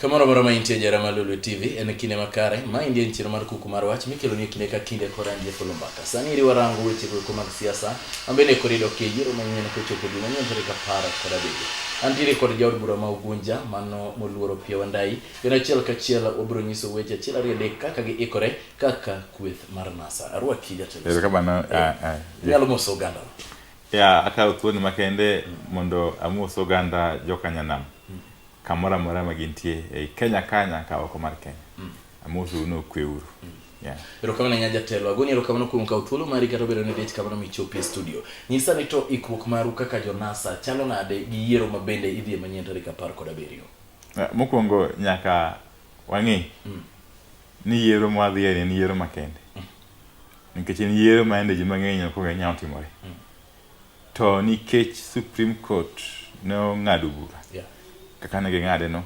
Kamoro moro ma intie jara ma Lulu TV en kinde makare ma indie nchiro mar kuku mar wach mikelo ni kinde ka kinde kora ndie kolo mbaka. Sani iri warango weche kuku mag siasa ambene korido ke yiro ma nyene ko chopo dina nyene tarika para kora bebe. Antire kod jaod bura ma ugunja mano moluoro pia wandai. Yana chiel ka chiel obro nyiso weche chiel ariyo dek kaka gi ikore kaka kweth mar NASA. Arwa kija tele. Ero kabana. Nyalo moso oganda. ya akawo thuoni makende mondo amos oganda jokanyanam kamoro amora ma gintie ei kenya kanya ka oko mar kenya mm. amoso uno okwe uru mm. Yeah. erokamano nya jatelo agoni erokamano kuom kawo thuolo mari kata obedo ni dich kamano michopi e studio nyisa ni to ikruok maru kaka jonasa chalo nade gi yiero ma bende idhi e manyien tarik apar kod abiriyo eh, mokwongo nyaka wang'e mm. ni yiero mwadhiye en yiero makende nikech en yiero ma ende ji mang'eny ok ong'eyo nyalo timore mm. to nikech Supreme Court ne ong'ado bura kaka ne ging'ade no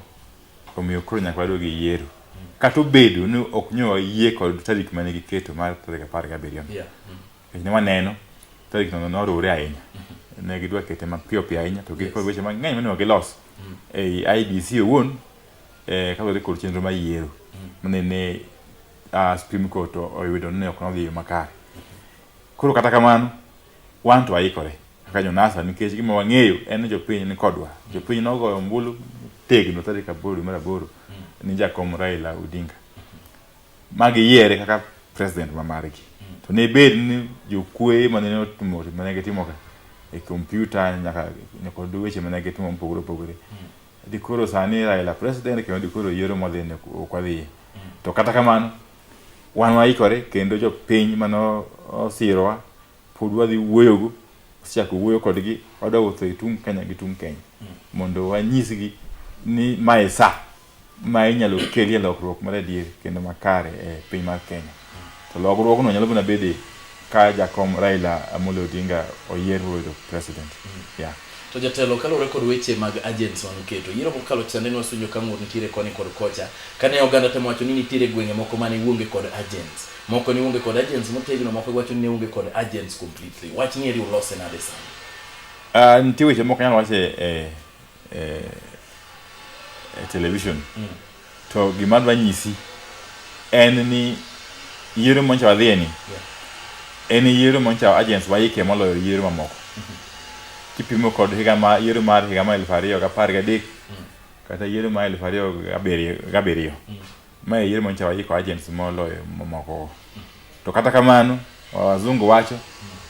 omiyo koro nyaka waduog gi yiero mm. kata obedo ni ok nyo yie kod tarik mane giketo mar tarik apar gi abiriyo nikech mm. ne waneno tarik no noriwore ahinya mm-hmm. ne gidwa kete mapiyo piyo ahinya to gikod weche mang'eny monego gilos ei IBC owuon eh, kaluwore kod chenro mar yiero manene uh, Supreme Court oyudo ni ok nodhi yo makare. Koro kata kamano wan to waikore kaka jonasa nikech gima wang'eyo en ni jopiny ni kodwa. Jopiny nogoyo ombulu tegno tarik aboro mar aboro ni jakom Raila Odinga ma giyiere kaka president ma margi. To ne bed ni jokuoye ma ne otimo ma ne gitimoga e kompyuta nyaka nyaka weche ma ne gitimo mopogore opogore Dikoro sani Raila president kendo dikoro yiero modhi ne ok wadhiye. To kata kamano wan waikore kendo jopiny mano osirowa pod wadhi wuoyogo chako wuoyo kodgi wadwa wuotho e tung' Kenya gi tung' Kenya mondo wanyisgi ni mae sa ma inyalo kelie lokruok mar adier kendo makare e piny mar Kenya. To lokruogno nyalo mana bede ka jakom Raila Amolo Odinga oyier bedo president. Mm. Yeah. To jatelo kaluwore kod weche mag agents man keto yiero kokalo chande ne wasunjo ka ng'ur nitiere koni kod kocha kane oganda temo wacho ni nitiere gwenge moko mane wuonge kod agents moko ni wuonge kod agents motegno moko wacho ni ne wuonge kod agents completely wach ni eri ulose nade sana uh, ah, nitie weche moko nyalo wache eh, eh, eh, television mm. To gima adwa nyisi en ni yiero moncha wadhiye ni en yiero moncha agents waike moloyo yiero mamoko kipimo kod higa ma yiero mar higa mar elfu ariyo gapar gadek kata yiero mar elfu ariyo gabiriyo gabiriyo ma e yiero moncha waiko agents moloyo mamoko to kata kamano wazungu wacho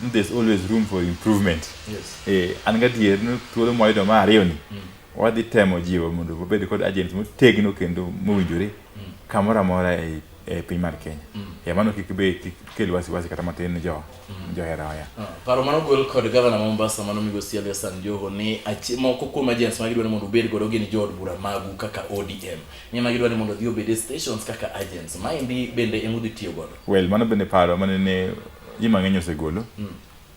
ni there's always room for improvement Yes. eh, an gadier ni thuolo mwayudo ma ariyo ni Wadhi temo jiwo mondo wabed kod agents motegno kendo mowinjore mm. kamoro amora e, e piny mar Kenya. Mm. E mano kik be kik kel wasiwasi kata matin ne jo mm. johera waya. Ah, paro mano gol kod gavana ma Mombasa mano migo Sialia San Joho ni moko kuom agents ma gidwaro mondo obed godo gin jood bura magu kaka ODM. Ni ma gidwaro mondo dhi obed e stations kaka agents. Ma endi bende emudhi tiyo godo. Well, mano bende paro mane ne ji mang'eny osegolo. Mm.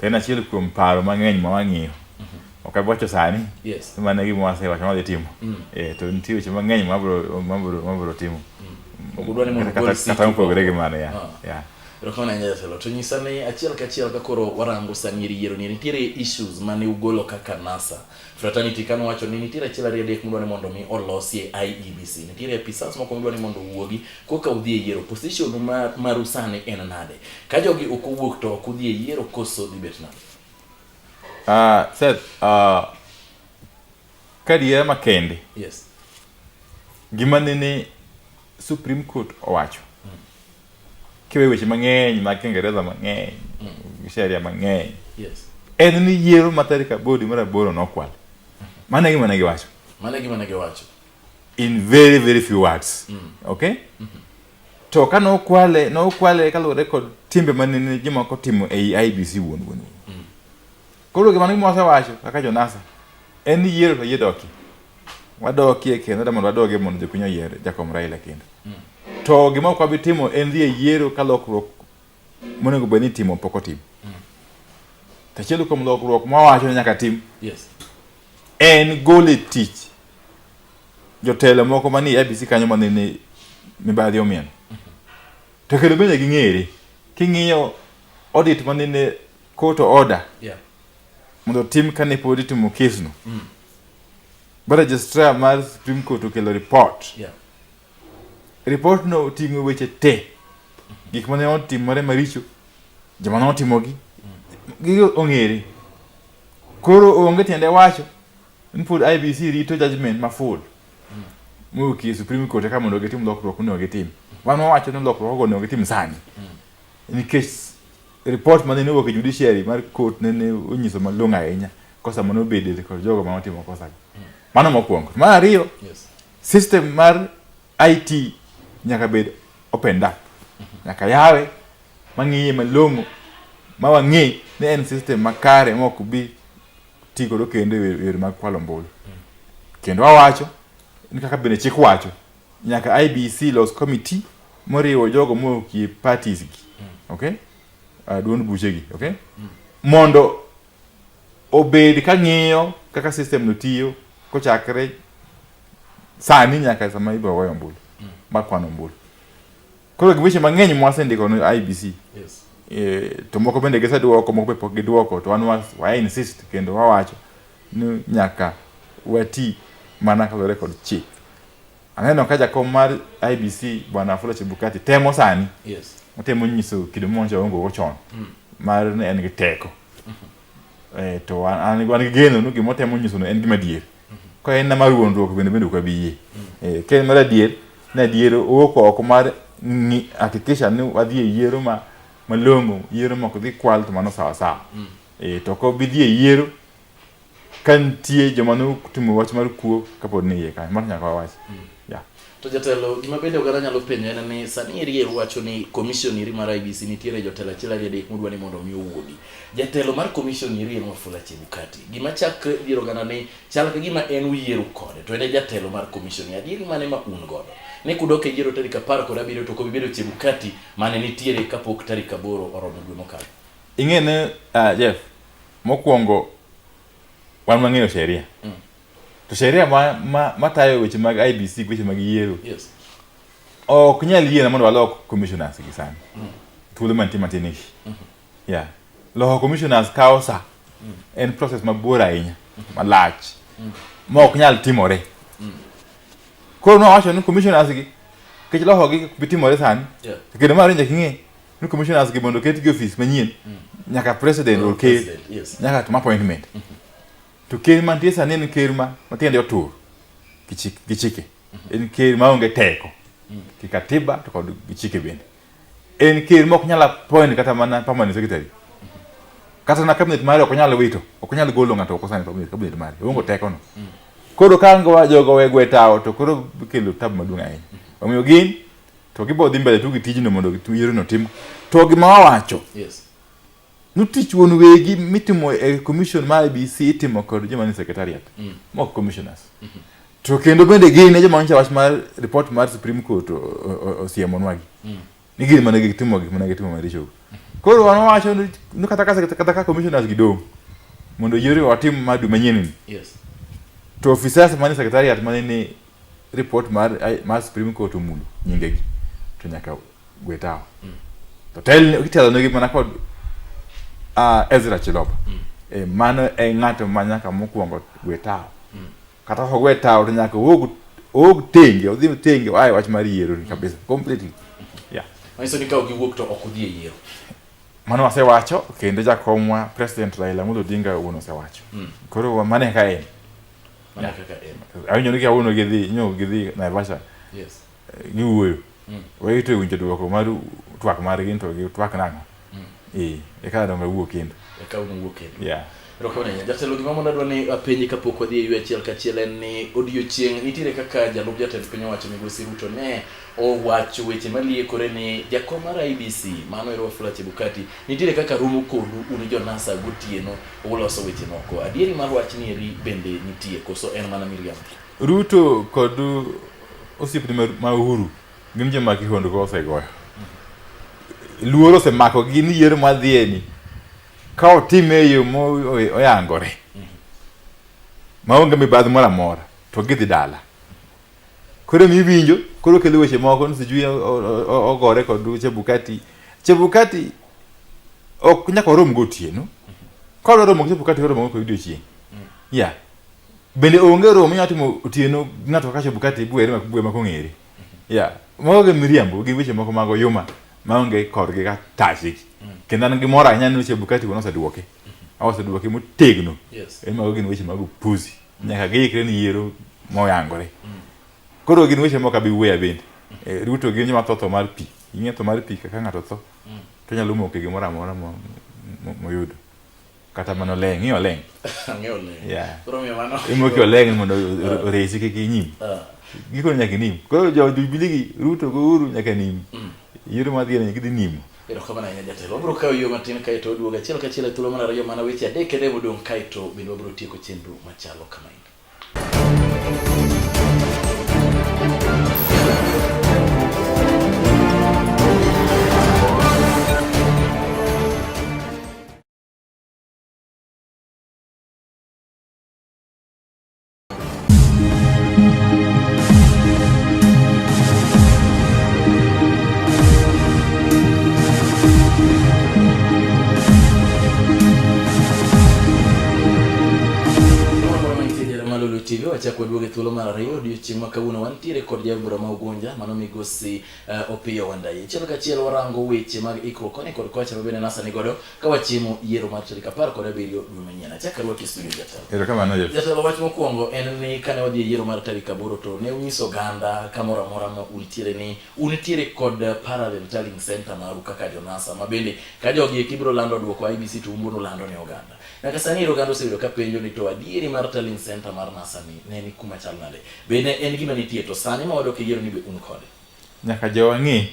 To en achiel kuom paro mang'eny ma wang'iyo. Mm-hmm. Ok abiwacho sani. Yes. Mane gima wasewacho ma dhi timo. Mm. Eh, to nitie weche mang'eny ma bro ma bro ma bro timo. Mm. Ok dwani mondo kata kata mopogore gi mano ya. Ah. Ya. Erokamano ahinya jatelo. To nyisa ni achiel kachiel ka koro warango sani yiero ni nitiere issues mane ugolo kaka NASA. Fraternity kano wacho ni nitiere achiel ariyo adek mudwa ni mondo mi olosie IEBC. Nitiere apisas moko mudwa ni mondo uwuogi koka udhi e yiero. Position mar maru sani en nade? Ka jogi ok owuok to ok udhi e yiero koso dhi bet nade? Ah, uh, Seth, uh, ah, kadiera makende. Yes. Gima nene Supreme Court owacho. Mm. kiwe weche mang'eny mag Kiingereza mang'eny mm. sheria mang'eny yes. en ni yiero ma tarik abodi mar aboro nokwal mano gima ne giwacho mano gima ne giwacho in very very few words mm. okay mm -hmm. to ka nokwale nokwale kaluwore kod timbe mane jomoko timo ei IBC wuon wuon mm. Koro gima ni mose wacho kaka Jonasa en ni yiero to yie doki. Wadokie kendo da mondo wadoge mondo jopiny oyier Jakom Raila kendo. Mm. To gima ok wabi timo en dhi e yiero ka lokruok monego bed ni timo pok otim. Mm. Tachiel kuom lokruok ma wacho ni nyaka tim. Yes. En gole tich jotelo moko manie ABC kanyo ma nene mibadhi omien. Mm-hmm. To kendo bende ging'ere king'iyo audit ma nene court order yeah. mondo tim kane pod itimo kesno mm. ba registrar mar supreme court okelo report yeah. report no oting'o weche te gik mane otimore maricho joma ne otimogi mm. gi ong'ere koro onge tiende wacho ni pod ibc rito judgment ma full mm. mokie supreme court eka mondo gitim lokruok monego gitim wan wawacho ni lokruok ogo onego gitim sani mm. nikech Report mane ni owuok e judiciary mar court ne ne onyiso malong'o ahinya kosa mane obede kod jogo ma otimo kosa. Hmm. Mano mokwongo. Mar ariyo, yes. system mar IT nyaka bed opened up. Nyaka yawe mang'iye malong'o ma wang'e ni en system makare ma ok bi ti godo kendo e yore mag kwalo ombulu. Hmm. Kendo awacho ni kaka bende chik wacho Nyaka IBC los committee moriwo jogo mokie parties gi. Mm. Okay? Uh, duond buche gi, okay? Mm. Mondo obed ka ng'iyo kaka system no tiyo kochakre sani nyaka sama ibiro goyo ombulu mm. mar kwano ombulu. Koro giweche mang'eny mwasendiko ne IBC. Yes. E, to moko bende giseduoko, moko be pok giduoko to wan wa insist kendo wawacho ni nyaka wati mana kaluwore kod chik. Aneno ka jakom mar IBC bwana Wafula Chebukati temo sani yes. otemo nyiso kido mwancho waongogo chon mm. mar ni en gi teko mm -hmm. e, to an gi geno ni gima otemo nyisono en gima adier mm -hmm. ka en nama wuondruok bende bende ok abi yie mm -hmm. e, ka en mar adier ni adier owuok oko mar hakikisha ni wadhi e yiero ma malong'o yiero mok dhi kwal to mano sawasawa mm -hmm. E, to ko bidhi e yiero ka nitie joma ne otimo wach mar kuo kapod ni iye kanyo mano nyaka wawach mm. yeah. to jatelo gima bende oganda nyalo penjo en ni sani eri wacho ni commission iri mar IBC nitiere jotelo achiel ariyo adek modwa ni mondo omi owuogi jatelo mar commission iri en Wafula Chebukati gima chakre dier oganda ni chal ka gima en uyiero kode to en e jatelo mar commission adieri mane ma un godo ne kudok e yiero tarik apar kod abiriyo to kobibedo Chebukati mane nitiere kapok tarik aboro oromo dwe mokalo Ing'e ni uh, Jeff, mokwongo wan wang'eyo sheria. Mm. To sheria ma, ma, ma tayo weche mag IBC gi weche mag yiero. Yes. Ok nyal yiena mondo walok commissioners gi sani. Mm. Thuolo mantie matin ishi. Mm -hmm. Yeah. Loko commissioners kawo sa. Mm. En process mabor ahinya, mm -hmm. malach. Mm. Ma ok nyal timore. Mm. Koro nwawacho ni commissioners gi kech lokogi bitimore sani. Yeah. Kendo ma rinja king'e. ni commissioners gi mondo ketgi ofis manyien mm. nyaka president or ker nyaka tuma appointment mm-hmm. to ker mantie sani en ker ma matiende otur gi chike mm-hmm. en ker maonge teko mm. gi katiba to kod gi chike bende en ker ma ok nyal appoint kata mana permanent secretary mm-hmm. kata na cabinet mare ok nyal wito ok nyal golo ng'ato ok osani cabinet mare onge mm. teko no mm. koro ka jogo wegwe tawo to koro kelo tabu maduong' ahinya omiyo gin to gibo dhi mbele tu gi tijno mondo yiero tim to gima wawacho yes. nutich wuon wegi mitimo e commission ma IBC itimo kod joma ni secretariat mm. mok commissioners mm -hmm. to kendo bende gin e joma nyicha wach mar report mar Supreme Court osiemonwagi mm. ni gin mana gitimo gik mana gitimo maricho mm. koro wan wawacho ni kata ka kata ka commissioners gidong mondo yiero watim madu manyien ni yes. to officers mani secretariat mani ni report mar mar Supreme Court omulo nyingegi to nyaka gwe tawo mm. to tel kitelo ne mana kod uh, Ezra Chiloba mm. e mano e ng'ato ma nyaka mokwongo gwe tawo mm. kata ka gwe tawo to nyaka owuog owuog tenge odhi tenge ae wach mar yiero ni kabisa completely yeah manyiso ni ka ok iwuok to ok udhi e yiero mano wasewacho kendo jakomwa president Raila Amolo Odinga wuon osewacho mm. koro mane ka en mana kaka en awinjo ni kawuono gidhi nyo gidhi Naivasha yes eh, giwuoyo mm. wayito e winjo dwoko mar twak margi to gi twak nang'o mm. ee eka donga wuo kendo eka wuo kendo yeah Rokonenya, jatelo gima mondo adwa ni apenji kapok wadhi e yue achiel kachiel en ni odiochieng' nitiere kaka jalup jatend piny owacho migosi Ruto ne owacho weche maliekore ni jakom mar IBC mano ero Wafula Chebukati nitiere kaka rumo kodu un jo NASA gotieno uloso weche moko adieri mar wach ni eri bende nitie koso en mana miriambo Ruto kod osiepne ma Uhuru gin joma kihondko osegoyo luoro osemako gi ni yiero madhieni ka otime e yo moyangore maonge mibadhi moro amora to gidhi dala Koro mi winjo, koro kelo weche moko ni sijui ogore kod Chebukati. Chebukati ok nyaka orom gotieno. Ka odwa romo gi Chebukati oromo go odiochieng'. Yeah. Bende onge romo minyalo timo otieno ng'ato kaka Chebukati bwere ma bwe ma kong'ere. Yeah. Mago gin miriambo gi weche moko mago yuma maonge korgi ka tachi. Kendo an gi mor ahinya ni Chebukati wuon oseduoke. Oseduoke motegno. Yes. Mago gin weche mag upuzi. Nyaka giikre ni yiero moyangore. Koro gin weche moko abi wuoya bende. Eh, Ruto gin joma tho tho mar pi. Ing'e tho mar pi kaka ng'ato tho. To nyalo moke gimoro amora mo- mo- moyudo. Kata mana oleng', ing'e oleng'. Ang'eyo le. Yeah. Koro miyo mano. Imoke oleng' mondo o- oresi kik inyim. Ah, Gikone nyaka inim. Koro jo Jubilee gi Ruto gi Uhuru nyaka nim. Yiero mar gini gidhi nimo. Erokamano ahinya jatelo. Wabiro kawo yo matin kae to oduogo achiel kachiel e thuolo mar ariyo mana weche adek ene modong' kae to bende wabiro tieko chenro machalo kama endi. TV wachako duoge thuolo mar ariyo odiochieng' ma kawuono wantiere kod jabura ma Ugunja mano migosi uh, Opiyo Wandayi. Chiel kachiel warango weche mag ikruok koni kod kocha ma bende nasa ni godo ka wachiemo yiero mar tarik apar kod abiriyo dwe manyien achak arwaki studio jatelo erokamano jeff jatelo wach mokwongo en ni kane wadhi e yiero mar tarik aboro to ne unyiso oganda kamoro amora ma untiere ni untiere kod parallel tallying center maru kaka jonasa ma bende ka jogi eki biro lando dwoko ibc to umbuno lando ne oganda nyaka sani ero oganda oseyudo ka penjo ni to adieri mar tallying center mar nasa ni ne ni kuma chal nade be ne en gima nitie to sani ma wadok e yiero ni be un kode nyaka jowang'e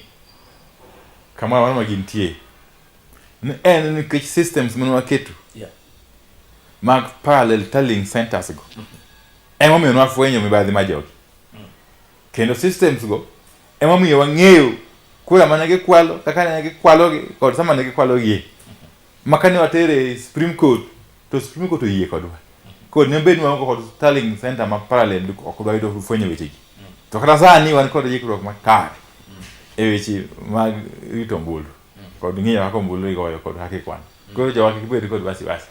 kamoro amora ma gintie en nikech systems mane waketo yeah. mag parallel telling centers go mm -hmm. emomiyo nwafwenyo mibadhi ma jogi mm. kendo systems go emomiyo wang'eyo kura mane gikwalo kaka ne gikwalogi kod sama ne gikwalogie mm -hmm. makane watere supreme court to supreme court oyie kodwa mm -hmm. kod ne bed wango kod telling center ma parallel ok dwa yudo fwenyo wechegi mm. to kata sani wan kod yikruok makare mm. e weche mag rito ombulu kod ng'iyo kaka ombulu igoyo kod kaka ikwano koro jowa kik bed kod wasiwasi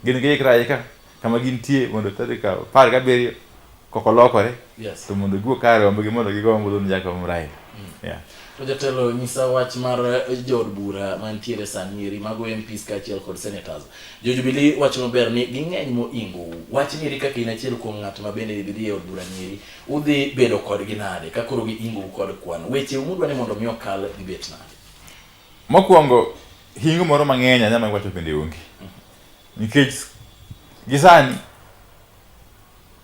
gin giikra aika kama gintie mondo tarik apar gabiriyo kok olokore Yes. to mondo giwuo kare ombgi mondo gigo ombulu ni jakom Raila Mm. Yeah. To jatelo nyisa wach mar eh, jood bura mantiere sani eri mago MPs kaachiel kod senators. Jo Jubilee wacho maber ni ging'eny moingo wach ni eri kaka in achiel kuom ng'at ma bende idhi e od bura nieri udhi bedo kodgi nade ka koro giingo kod kwan. Weche mudwa ni mondo mi okal gibet nade. Mokwongo hingo moro mang'eny anyama wacho bende onge. Nikech gisani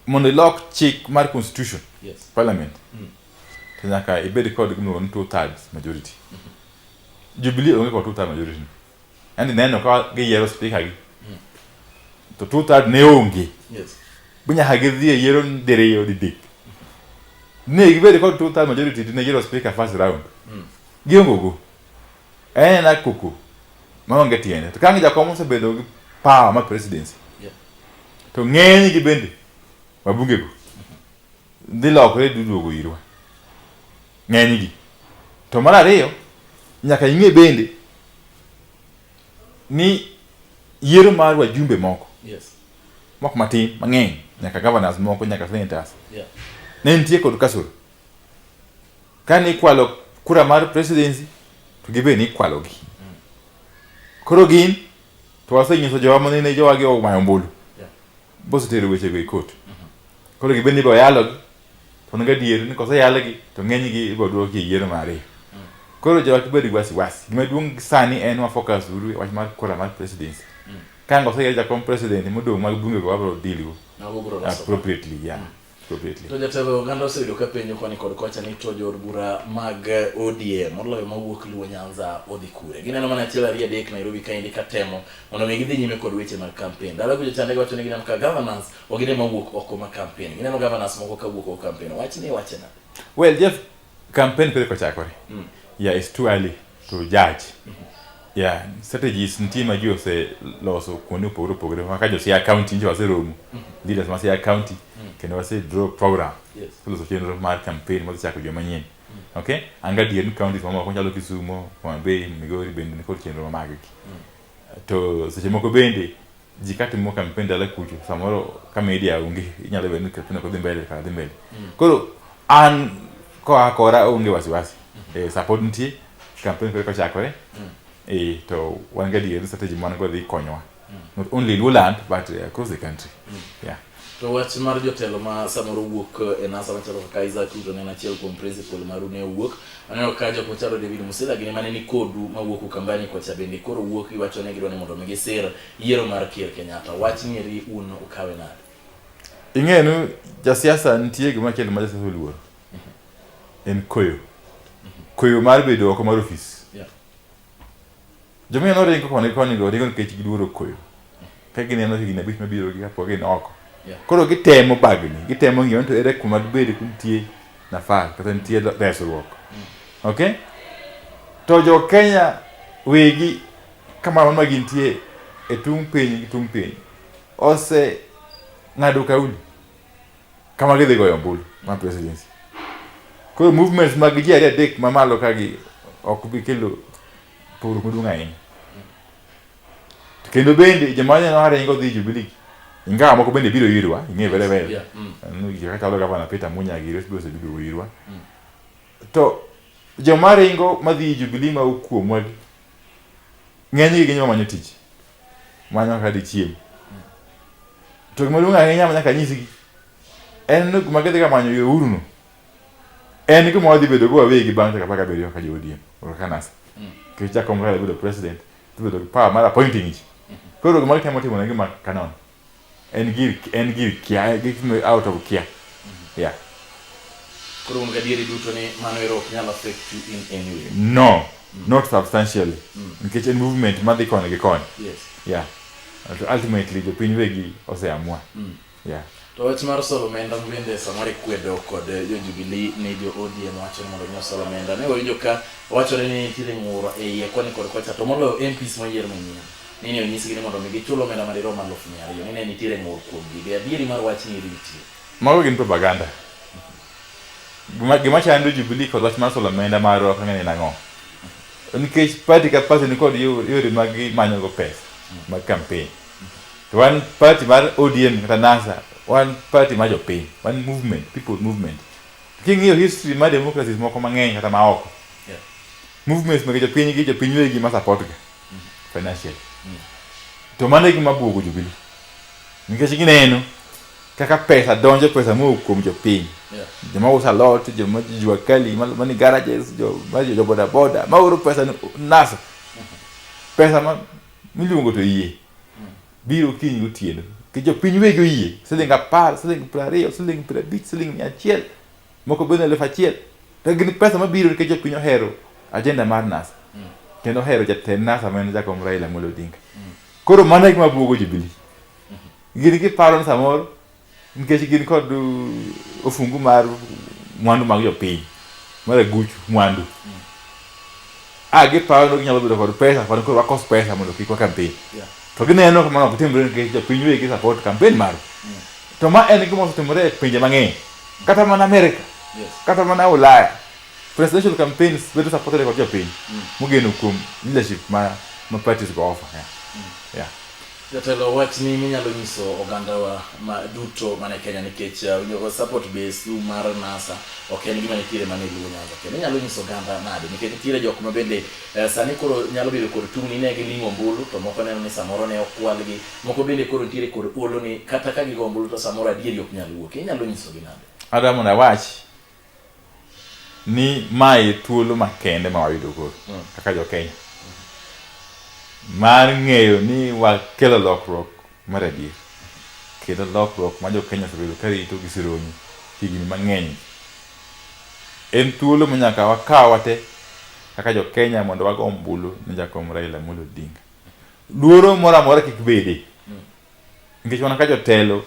mondo ilok chik mar constitution yes. parliament mm. to nyaka ibed kod gimiluongo ni two thirds majority mm -hmm. Jubilee onge kod two thirds majority yani neno ka giyiero speaker gi mm. to two third ne onge yes bunya hagidhi e yiero diriyo didek ne gibedo kod two third majority ne yiero speaker first round mm. giongo go eh na kuku maonge tiende to kangi jakom osebedo gi power ma presidency yeah. to ng'eny gi bende wabunge go mm-hmm. dhi lokore duduogo irwa ng'enygi. To mar ariyo, nyaka ing'e bende ni yiero mar wajumbe moko yes. mok matin mang'eny nyaka governors moko nyaka senators yeah. ne nitie kod kasoro kane ikwalo kura mar presidency to gibe ni ikwalo gi mm. koro gin to wasenyiso jowa manene jowa gi omayo ombulu bosetero wechego e kot koro gibed ni boyalogi to onego adier ni koseyalgi to ng'enygi ibodwoki e yiero mar ariyo koro jowach bedo gi wasiwasi gima duong' sani en wafokas uru e wach mar kura mar presidency ka ang' oseyier jakom president modong' mag bunge go wabro deal go Mago bro loso. appropriately yeah To jatelo oganda oseyudo ka penjo koni kod kocha ni to jood bura mag ODM moloyo mawuok Luo Nyanza odhi kure. Gineno mana achiel ariyo adek Nairobi kaendi ka temo mondo mi gidhi nyime kod weche mag kampen. Dala kujo chande wacho ni gineno ka governance ogine mawuok oko ma kampen. Gineno governance moko ka wuok oko kampen. Wach ni wache na. Well, Jeff Kampen pile kochakore. Mm. Yeah, it's too early to judge. Mm -hmm. Yeah, strategies nitie ma ji oseloso kuonde opogore opogore kaka jo Siaya County nje waseromo mm -hmm. leaders ma Siaya County mm -hmm. kendo wase draw program yes. loso chenro mar campaign ma chako joma nyien mm -hmm. okay anga dier ni counties mamoko nyalo Kisumo, Homa Bay, Migori bende nikod chenro ma maggi mm -hmm. To seche moko bende ji katimo kampen dala kucho samoro ka media onge inyalo bedo ni kampen ok dhi mbele kaka dhi mbele. Mm. Koro an koa kora onge wasiwasi. Mm-hmm. Eh, support nitie kampen kore kochakore. Mm. Eh, to wan gadier ni strategy man go dhi konyowa. Mm. Not only in Uland but eh, across the country. Yeah. To wach mar jotelo ma samoro wuok eh, e NASA machalo kaka Isaac Ruto ne en achiel kuom principal maru ne owuok. Aneno ka jok machalo David Musila gini mane ni kodu ma wuok Ukambani kocha bende koro wuok iwacho ne gidwa ni mondo mi gisir yiero mar Ker Kenyatta. Wach nieri un ukawe nade? Ing'eyo ni jasiasa nitie gima kelo ma jasiasa oluor. En koyo. Koyo mar bedo oko mar ofis. Yeah. Jomia noringo koni koni go ringo nikech giluoro koyo. Ka gineno higni abich mabiro gi kapok gin oko. Koro gitemo bagni, gitemo ng'iyo to ere kuma dibed kuntie nafas kata nitie resruok. Mm. Okay? To jo Kenya wegi kamano ma gintie e tung' piny gi tung' piny ose ng'ado kauli kama gidhi goyo ombulu ma presidency. Koro movements mag ji ariyo adek mamalo kagi ok bi kelo Pur maduong' ahinya. Kendo bende joma nyalo hare ingo dhi Jubilee. Ingawa moko bende biro irwa, ing'e vele vele. Yeah. Mm. Anu jika kalo gavana Peter Munya gi Ruth Bose biro irwa. Mm. To joma ringo madhi Jubilee ma okuomwa gi ng'eny gi ginyoma manyo tich. Manyo ka di chiem. Mm. To gima duong' ahinya ma nyaka nyisgi en ni gima gidhi ga manyo yo uruno. en gima wadhi bedo go wawegi bang' dakika apar gabiriyo kaka jo ODM or kaka NASA nikech Jack Komukala bedo president dhi bedo gi power mar appointing ji koro gima gitemo timo ne gima kanon en gir en gir kia gitimo out of kia yeah Koro un gadieri duto ni mano ero ok nyal affect you in any way. no not substantially nikech en movement madhi koni gi koni Yes. yeah Ult- ultimately jopiny wegi oseamua Yeah. To wach mar solo omenda bende samoro ikwedo kod eh, jo Jubilee ni jo ODM wacho ni mondo nyosol omenda. Ne wawinjo ka wachore ni nitiere ng'uro e iye koni kod kocha to moloyo MPs moyier manyien. Ni ne onyisgi ni mondo mi gichul omenda madirom aluf mia ariyo. Ni ne nitiere ng'ur kuom gigi. Adieri mar wach ni ritie. Mago gin propaganda. Gima gima chando Jubilee kod wach mar solo omenda mar roho kang'e ni nang'o. Nikech party ka party ni kod yore mag manyo go pesa mag campaign. to wan party mar ODM kata NASA wan party ma jopiny wan movement people movement king'iyo history ma democracies moko mang'eny kata ma oko yeah. movements mag jopiny gi jopiny wegi ma support ga mm. financial mm. to mano e gima buogo jubili nikech gineno kaka pesa donjo pesa mowuok kuom jopiny yeah. joma usa lot joma jua kali mani garages joma jo bodaboda maoro pesa nasa mm-hmm. pesa ma miluongo to yie biro kiny gotieno ki jopiny wegi oyie siling apar siling piero ariyo siling piero abich siling mia achiel moko bende eluf achiel to gin pesa mabiro nikech jopiny ohero ajenda mar nasa kendo ohero jatend nasa ma en jakom Raila Amolo Odinga koro mano e gima buogo Jubilee gin giparo ni samoro Nikech gin kod uh, ofungu mar mwandu mag jopiny mar aguchu mwandu mm. ah, gipawo no ginyalo bedo kod pesa kod koro wakos pesa mondo kik wa campaign yeah. to gineno kamano ok timre nikech jopiny wegi support campaign mar mm. to ma en gima osetimore e pinje mang'eny kata mana America yes. kata mana Ulaya presidential campaigns bedo supported kod jopiny mm. mogeno kuom leadership ma ma parties go offer yeah. Mm. yeah. Jatelo wachni minyalo nyiso ogandawa ma duto mane Kenya nikech uh, winjo support base du mar NASA ok en gima nitiere mana e Luo Nyanza kendo inyalo nyiso oganda nade nikech nitiere jok ma bende uh, sani koro nyalo bedo kod tungni ne gilimo ombulu to moko neno ni samoro ne okwalgi moko bende koro nitiere kod olo ni kata ka gigo ombulu to samoro adieri ok nyal wuok inyalo nyisogi nade Adamu na wach ni mae thuolo makende ma wayudo koro mm. kaka jo Kenya mar ng'eyo ni wakelo lokruok mar adier kendo lokruok ma jo Kenya osebedo ka rito gi sironyi higni mang'eny en thuolo ma nyaka wakaw wate kaka jo Kenya mondo wago ombulu ne jakom Raila Amolo Odinga luoro moro amora kik bede mm. nikech wana ka jotelo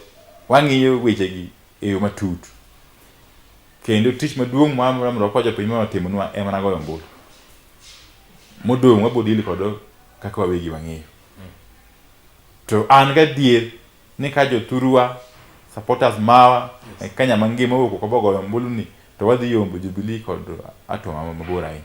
wang'iyo wechegi e yo matut. Kendo tich maduong' ma mrokoa jopiny ma watimonwa e mana goyo ombulu. Modong' wabiro deal kod kaka wawegi wang'eyo. To an gadier ni ka jothurwa, supporters mawa e Kenya mangima owuok oko bogoyo ombulu ni to wadhi yombo Jubilee kod Atoma mabor ahinya.